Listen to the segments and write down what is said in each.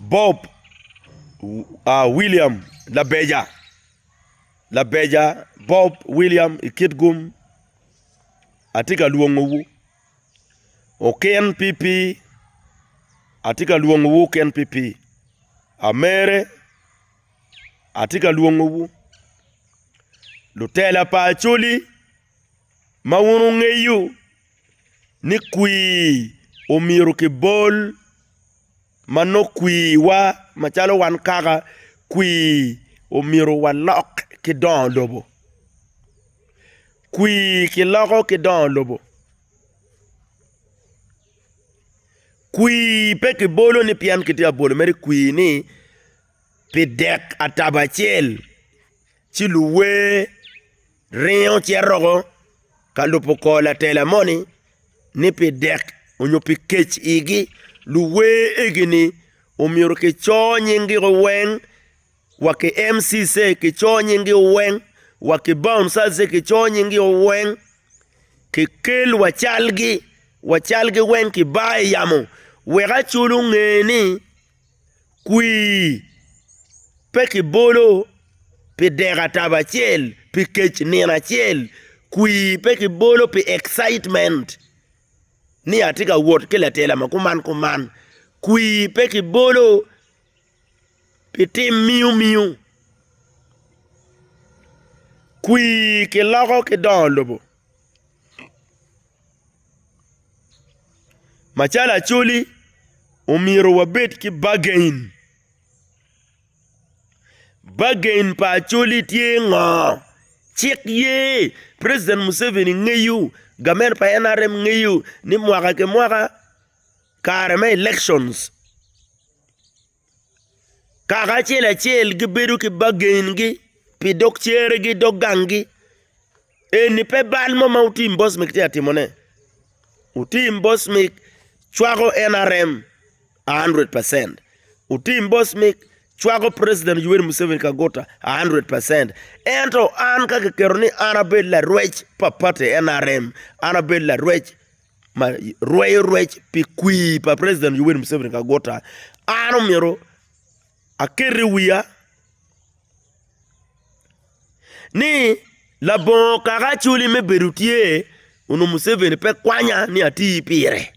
Bob William Labeja, Labeja Bob William i Kitgum, atye ka lwongowu, Okin PP, atye ka lwongowu Okin PP, Amere, atye ka lwongowu, Lutela pa Acholi, ma wun wungeyo ni kwir omyero kibol ma nongo kwirwa macalo wan kaka kwir omyero walok ki dongo lobo. Kwir kiloko ki dongo lobo, kwir pe kibolo ni pien kitye ka bwolo mere kwir ni pi dek atabo acel. Ci luwer ringo ci aroko ka lubo kor latela moni ni pi dek onyo pi kec igi luwer egini omyero ki cor nyingi o weng wa ki MCC ki cor nyingi o weng wa ki Bound Cells ki cor nyingi o weng ki kel wa calgi wa calgi weng ki bar i yamo wek acol onge ni kwii, pe kibolo pi dek atabo acel, pi kec nino acel, kwii pe kibolo pi excitement ni atye ka wot ki latela ma kuman kuman, kwii pe kibolo pi tim miyo miyo, kwii kiloko ki dongo lobo. Macalo Acholi omyero wabed ki bagain, bagain pa Acholi tye ngo? Cik ye president Museveni ngeyo gamen pa NRM ngeyo ni mwaka ki mwaka kare me elections. Kaka acel acel gibedo ki bagengi pi dog ceregi dog gangi. Eni pe bal mo ma otim Bosmik tye ka timone. Otim Bosmik cwako NRM a handured pacent. Otim Bosmik cwako preciden Yoweri Museveni Kaguta a handured pacent. Ento an ka kiketo ni an abed larwec pa pati NRM, an abed larwec ma rweyo rwec pi kwir pa president Yoweri Museveni Kaguta an omyero aket i wiya ni labongo kaka acwali me bedo tye onongo Museveni pe kwanya ni ati pire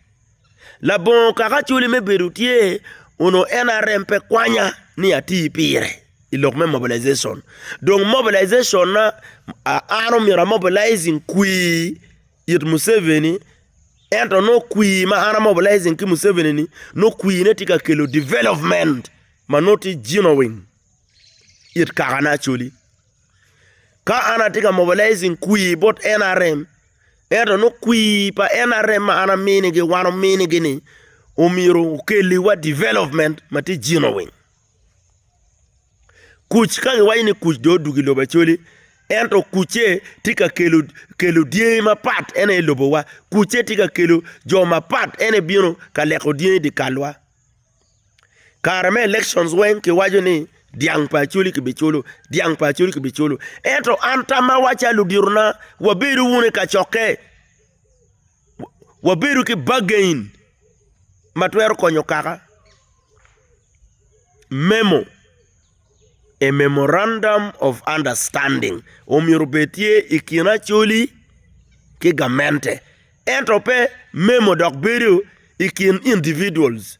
labongo kaka acwali me bedo tye onongo NRM pe kwanya ni ati pire i lok me mobilization dong mobilization na an omyero amobilizing kwir it Museveni ento nongo kwir ma an a mobilizing ki Museveni ni nongo kwir ne tye ka kelo development ma nongo tye genuine it kaka ne Acholi. Ka an atye ka mobilizing kwir bot NRM ento nongo kwir pa NRM ma an aminigi wan ominigi ni omyero okelliwa development ma tye genuine. Kuc ka giwaco ni kuc dong odwogo i lobo Acholi ento kucce tye ka kelo dyangi mapat ene i lobowa kucce tye ka kelo jo mapat ene ebino ka leko dyangi i dye kalwa kare me election weng kiwaco ni dyang pa Acholi kibiculo dyang pa Acholi kibiculo ento an tammawa calo ludittona wabedo wunu i kacokke. wabedo ki bargain ma twero konyo kaka, memo, a memorandum of understanding omyero obed tye i kin Acholi ki gamente ento pe memo dok bedo i kin individuals.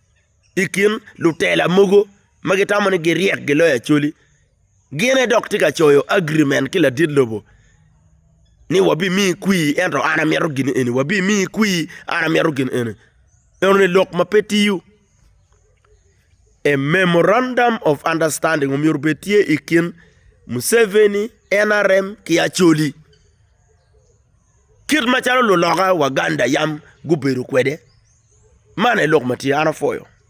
I kin lutela mogo ma gitamo ni giryek giloyo Acholi, gin aye dok tye ka coyo agirimen ki ladit lobo ni wabimiyi kwir ento an amito gin eni, wabimiyi kwir an amito gin eni. Enoni lok ma pe tiyo. A memorandum of understanding omyero obed tye i kin Museveni, NRM ki Acholi. Kit macalo luloka Waganda yam gubedo kwede, man aye lok ma tye, an apwoyo.